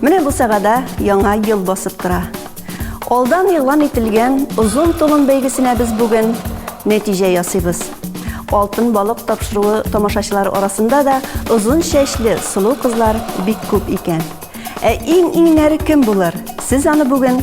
Менә бу сагада яңа ел басып тора. Алдан игълан ителгән озын толым бәйгесенә без бүген нәтиҗә ясыйбыз. Алтын балык тапшыруы тамашачылар арасында да озын чәчле сылу кызлар бик күп икән. Ә иң иңнәре кем булыр? Сез аны бүген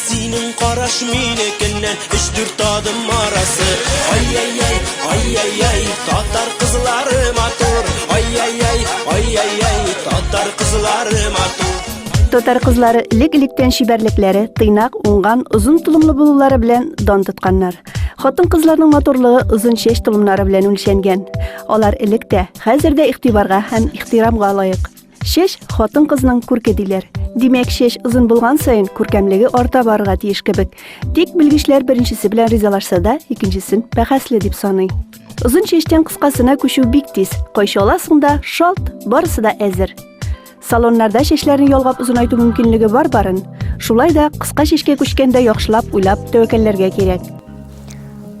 Синең караш минекеннән өч-дүрт адым арасы. Ай-яй-яй, ай-яй-яй, татар кызлары матур. Ай-яй-яй, ай-яй-яй, татар кызлары матур. Татар кызлары элек-электән чибәрлекләре, тыйнак, уңган, озын толымлы булулары белән дан тотканнар. Хатын-кызларның матурлыгы озын чәч толымнары белән үлчәнгән. Алар элек тә, хәзер дә игътибарга һәм ихтирамга лаек. Чәч, хатын-кызның күрке диләр. Димәк, чәч озын булган саен, күркәмлеге арта барырга тиеш кебек. Тик белгечләр беренчесе белән ризалашса да, икенчесен бәхәсле дип саный. Озын чәчтән кыскасына күчү бик тиз. Кайчаласың да, шалт, барысы да әзер. Салоннарда чәчләрне ялгап озынайту мөмкинлеге бар барын. Шулай да кыска чәчкә күчкәндә яхшылап уйлап тәвәккәлләргә кирәк.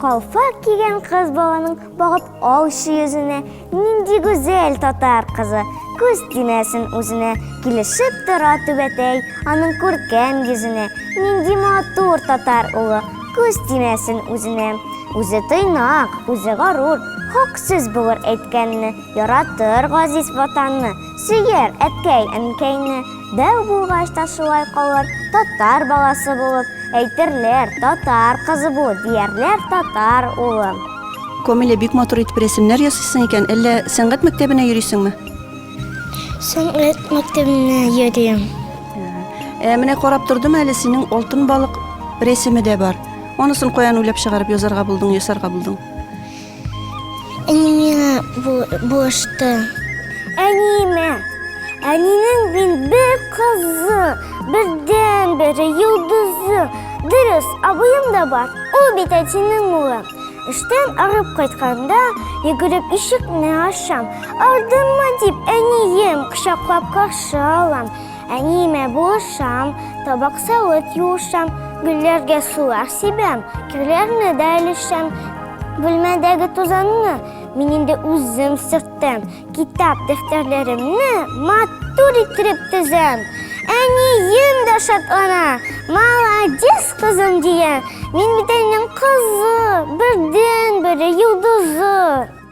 Калфак кигән кыз баланың багып алчы йөзенә Нинди гүзәл татар кызы! Күз тимәсен үзенә, килешеп тора түбәтәй, аның күркәм йөзенә. Нинди матур татар улы, күз тимәсен үзенә. Үзе тыйнак, үзе горур, хак сүз булыр әйткәнне, яратыр газиз ватанны. Сөер, әткәй, әнкәйне, Дәү булгач та шулай калыр, Татар баласы булып, Әйтерләр, татар кызы бу, Диярләр, татар улы. Камилә, бик матур итеп рәсемнәр ясыйсың икән, әллә сәнгать мәктәбенә йөрисеңме? Сәнгать мәктәбенә йөрим. Ә менә карап тордым әле синең алтын балык рәсеме дә бар. Анысын каян уйлап чыгарып язарга булдың, ясарга булдың? Әни миңа булышты. Әниемә. Әнинең мин бер кызы, бердән бере йолдызы. Дөрес, абыем да бар. Ул бит әтинең улы. Эштән арып кайтканда, йөгереп ишекне ачам. Ардынма дип, әнием кочаклап каршы алам. Әниемә булышам, табак савыт юышам, гөлләргә сулар сибәм, кирләрне дә өлешәм. Бүлмәдәге тузанны мин инде үзем сөртәм, китап дәфтәрләремне матур иттереп тезәм. Әнием дә шатлана, молодец кызым дия, мин бит әнинең кызы, бердән-бере йолдызы.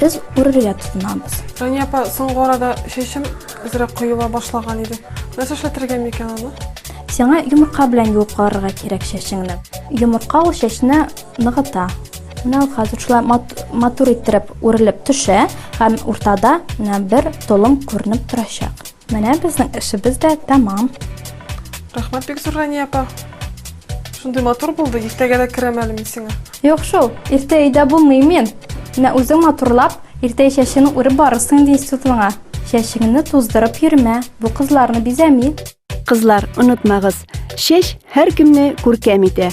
Без үрергә тотынабыз. Рания апа, соңгы арада чәчем әзрәк коела башлаган иде. Нәрсә эшләтергә микән аны? Сиңа йомырка белән юып карарга кирәк чәчеңне. Йомырка ул чәчне ныгыта. Менә ул хәзер шулай мат, матур иттереп үрелеп төшә һәм уртада менә бер толым күренеп торачак. Менә безнең эшебез дә тәмам. Рәхмәт бик зур Рәния апа. Шундый матур булды, иртәгә дә керәм әле мин сиңа. Юк шул, иртә өйдә булмыйм мин. Менә үзең матурлап, иртә чәчеңне үреп барырсың инде институтыңа. Чәчеңне туздырып йөрмә, бу кызларны бизәми. Кызлар, онытмагыз, чәч һәркемне күркәм итә.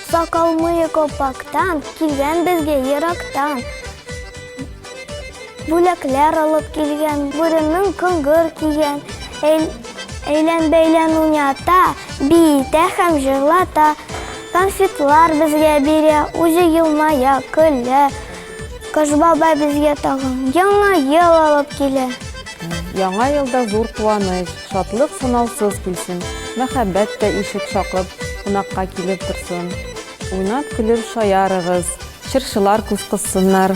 Сакал мые копактан, килгән безгә ерактан. Бүләкләр алып килгән, бүренең коңгыр кигән. Әйлән-бәйлән уйната, биетә һәм җырлата. Конфетлар безгә бирә, үзе елмая, көлә. Кыш бабай безгә тагын яңа ел алып килә. Яңа елда зур куаныч, шатлык сынаусыз килсен. Мәхәббәт тә ишек шакып, кунакка килеп торсын. Уйнап көлеп шаярыгыз, чыршылар күз кыссыннар.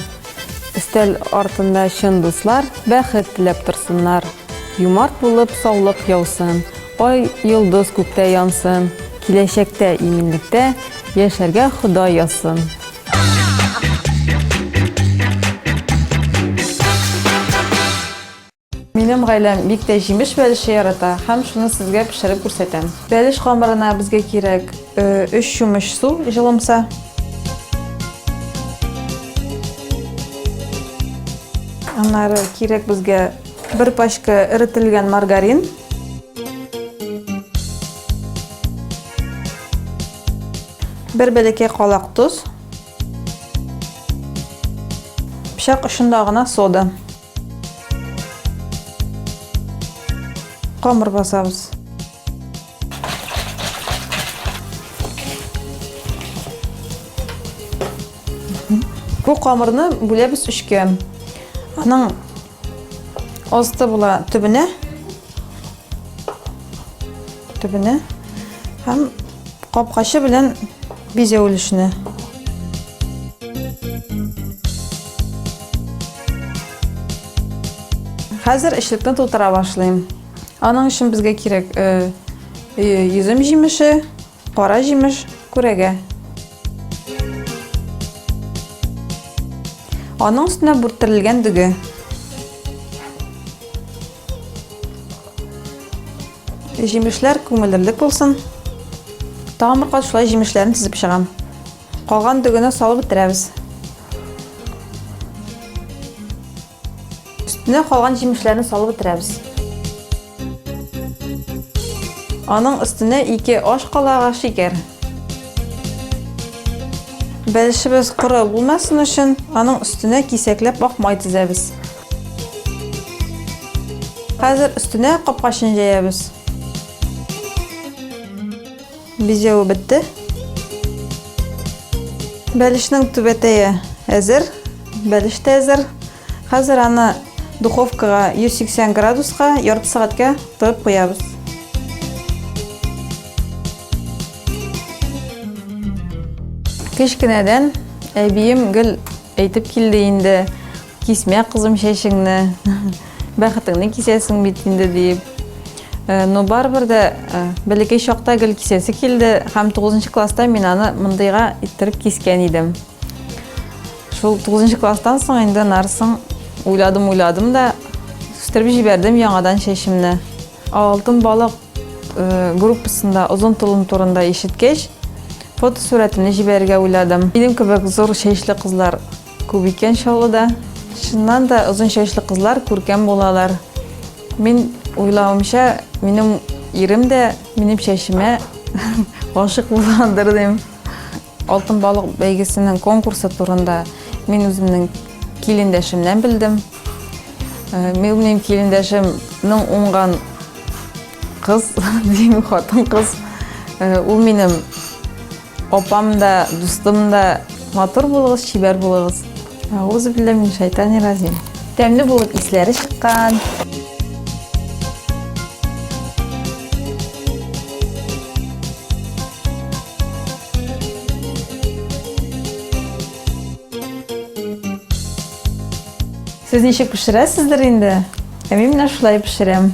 Өстәл артында чын дуслар бәхет теләп торсыннар. Юмарт булып саулык яусын, ай, йолдыз күктә янсын. Киләчәктә иминлектә яшәргә Ходай язсын. Минем гаиләм бик тә җимеш бәлеше ярата һәм шуны сезгә пешереп күрсәтәм. Бәлеш камырына безгә кирәк 3 э, чумыш су җылымса. Аннары кирәк безгә бер пачка эрителгән маргарин. Бер бәләкәй калак тоз. Пычак очында гына сода. Камыр басабыз. Бу камырны бүләбез өчкә. Аның Асты була төбенә. Төбенә. Һәм капкачы белән бизә өлешенә. Хәзер эчлекне тутыра башлыйм. Аның өчен безгә кирәк йөзем җимеше, Кара җимеш күрәгә. Аның өстенә бүрттерелгән дөге. Җимешләр күңеллелек булсын. Тагын бер кат шулай җимешләрен тезеп чыгам. Калган дөгене салып бетерәбез. Өстенә калган җимешләрне салып бетерәбез. Аның өстенә ике аш калагы шикәр. Бәлешебез коры булмасын өчен, аның өстенә кисәкләп ак май тезәбез. Хәзер өстенә капкачын җәябез. Бизәве бетте. Бәлешнең түбәтәе әзер. Бәлеш тә әзер. Хәзер аны духовкага 180 градуска ярты сәгатькә тыгып куябыз. Кечкенәдән әбием гел әйтеп килде инде. Кисмә, кызым, чәчеңне, бәхетеңне кисәсең бит инде, диеп. Э, но барыбер дә э, бәләкәй чакта гел кисәсе килде һәм 9 класста мин аны мондыйга иттереп кискән идем. Шул 9 класстан соң инде нарсын уйладым, уйладым да үстереп җибәрдем яңадан чәчемне. Алтын балык э, группасында озын тулым турында ишеткәч, фотосурәтемне җибәрергә уйладым. Минем кебек зур чәчле кызлар Күп икән Чаллыда. Чыннан да озын чәчле кызлар күркәм булалар. Мин уйлавымча, минем ирем дә минем чәчемә гашык булгандыр дим. Алтын балык бәйгесенең конкурсы турында мин үземнең килендәшемнән белдем. Э, минем килендәшемнең уңган кыз, дим, хатын кыз. Э, ул минем Апам да, дустым да, матур булыгыз, чибәр булыгыз. Аузу биллә мин шайтан иразим. Тәмле булып исләре чыккан. Сез ничек пешерәсездер инде? Ә мин менә шулай пешерәм.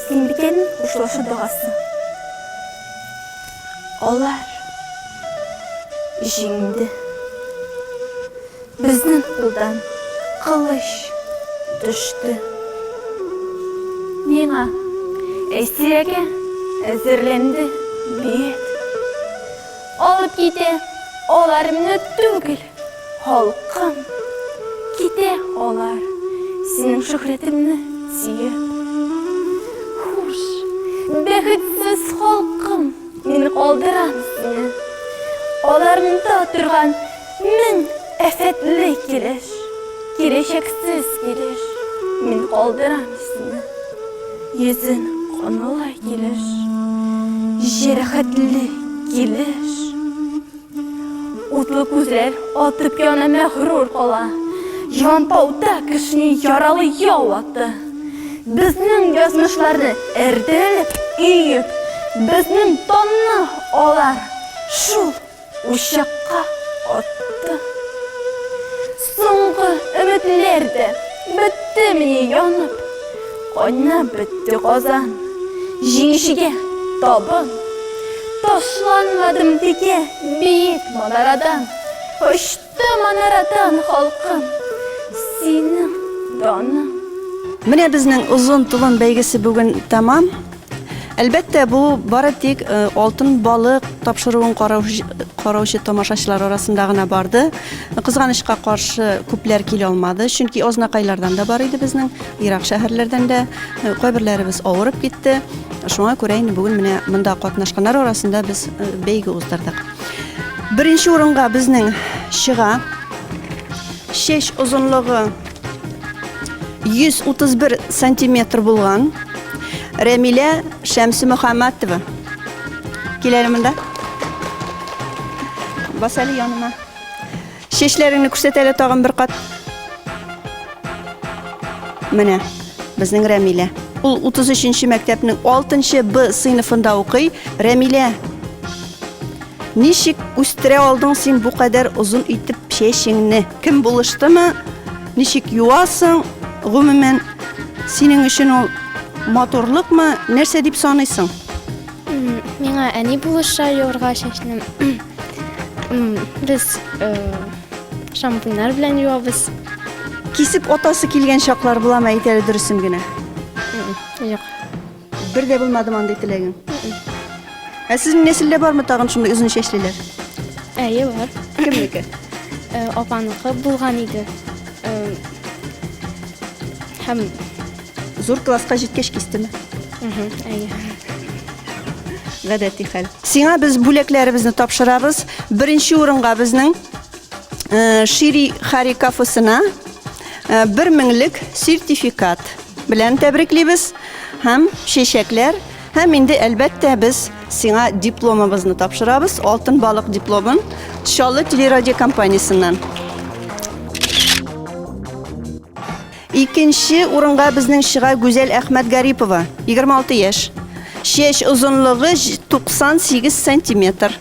Тимбикәнең хушлашу догасы. Алар җиңде. Безнең кулдан кылыч төште. Миңа Әйсирәгә әзерләнде бит. Алып китә аларны түгел. Халкым, китә алар синең шөһрәтеңне сөеп. Хуш, бәхетсез халкым, мин калдырам сине. Аларыңда торган мең афәтле килеш, киләчәксез килеш, мин калдырам сине. Йөзең канлы килеш, җәрәхәтле килеш. Утлы күзләр атып яна мәгърур кала. Җанпауда кешене яралы яу атты. Безнең язмышларны эрдереп, өеп, безнең данны алар шул учакка атты. Соңгы өметләр дә беттемени янып? Кайнап бетте казан, җиңүчегә табын. Ташланмадым текә биек манарадан. Очты манарадан халкым, синең даның. Менә безнең Озын толым бәйгесе бүген тәмам. Әлбәттә, бу бары тик э, алтын балык тапшыруын караучы тамашачылар арасында гына барды. Кызганычка каршы күпләр килә алмады, чөнки ознакайлардан да бар иде безнең, ерак шәһәрләрдән дә э, кайберләребез авырып китте. Шуңа күрә инде бүген менә монда катнашканнар арасында без э, бәйге уздырдык. Беренче урынга безнең чыга. Шеш озынлыгы 131 сантиметр булган Рәмилә Шәмсе Мөхәммәтова. Киләле монда. Бас әле яныма. Чәчләреңне күрсәт әле тагын бер кат. Менә безнең Рәмилә. Ул 33-нче мәктәпнең 6-нчы Б сыйныфында укый. Рәмилә Ничек үстерә алдың син бу кадәр озын итеп чәчеңне? Кем булыштымы? Ничек юасың? Гомумән, синең өчен ул матурлыкмы? Нәрсә дип саныйсың? Миңа әни булыша юарга чәчне. Без э, шампуньнар белән юабыз. Кисеп атасы килгән чаклар буламы? Әйт әле дөресен генә. Юк. Бер дә булмадымы андый теләгең? Ә сезнең нәселдә бармы тагын шундый озын чәчлеләр? Әйе, бар. Кемнеке? Э, Апаныкы булган иде. Э, Һәм, Зур класска җиткәч кистеме? мгм, әйе. Гадәти хәл. Сиңа без бүләкләребезне тапшырабыз. Беренче урынга безнең Э, Шири Хари кафесына э, бер меңлек сертификат белән тәбриклибез һәм чәчәкләр һәм инде әлбәттә без сиңа дипломыбызны тапшырабыз, алтын балык дипломын Чаллы телерадиокомпаниясеннән. Икенче урынга безнең чыга Гүзәл Әхмәтгарипова, 26 яшь. Чәч озынлыгы 98 сантиметр.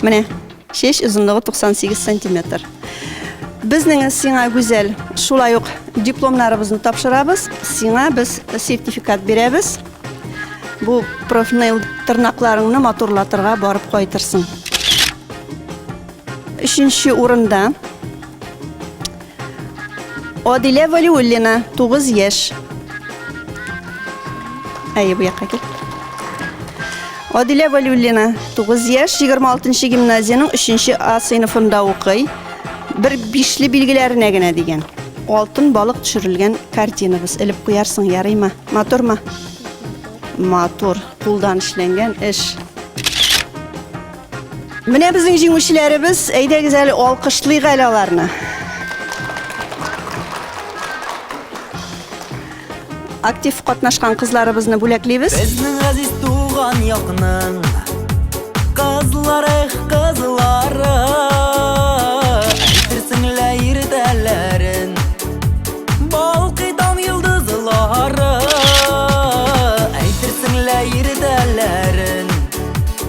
Менә, чәч озынлыгы 98 сантиметр. Безнең сиңа Гүзәл, шулай ук дипломнарыбызны тапшырабыз, сиңа без сертификат бирәбез. Бу профнейл тырнакларыңны матурлатырга барып кайтырсың. Өченче урында Адилә Валиуллина, 9 яшь. Әйе, бу якка кил. Адилә Валиуллина, 9 яшь, 26 гимназиянең 3 А сыйныфында укый. Бер бишле билгеләренә генә дигән. Алтын балык төшерелгән картинабыз. Элеп куярсың, ярыймы? Матурмы? Матур, кулдан эшләнгән эш. Менә безнең җиңүчеләребез, әйдәгез әле алкышлыйк әле аларны. Актив катнашкан кызларыбызны бүләклибез. Безнең газиз туган якның кызлары, кызлары. Әйтерсең лә иртәләрен балкый таң йолдызлары. Әйтерсең лә иртәләрен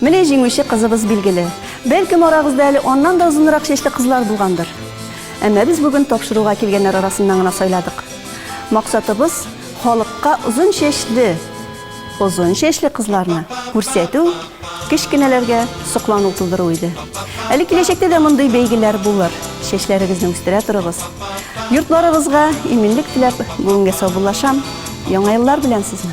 Менә җиңүче кызыбыз билгеле. Бәлкем, арагызда әле аннан да озынрак чәчле кызлар булгандыр. Әмма без бүген тапшыруга килгәннәр арасыннан гына сайладык. Максатыбыз, халыкка озын чәчле, озын чәчле кызларны күрсәтү, кечкенәләргә соклану тудыру иде. Әле киләчәктә дә мондый бәйгеләр булыр. Чәчләрегезне үстерә торыгыз. Йортларыгызга иминлек теләп, бүгенгә саубуллашам. Яңа еллар белән сезне!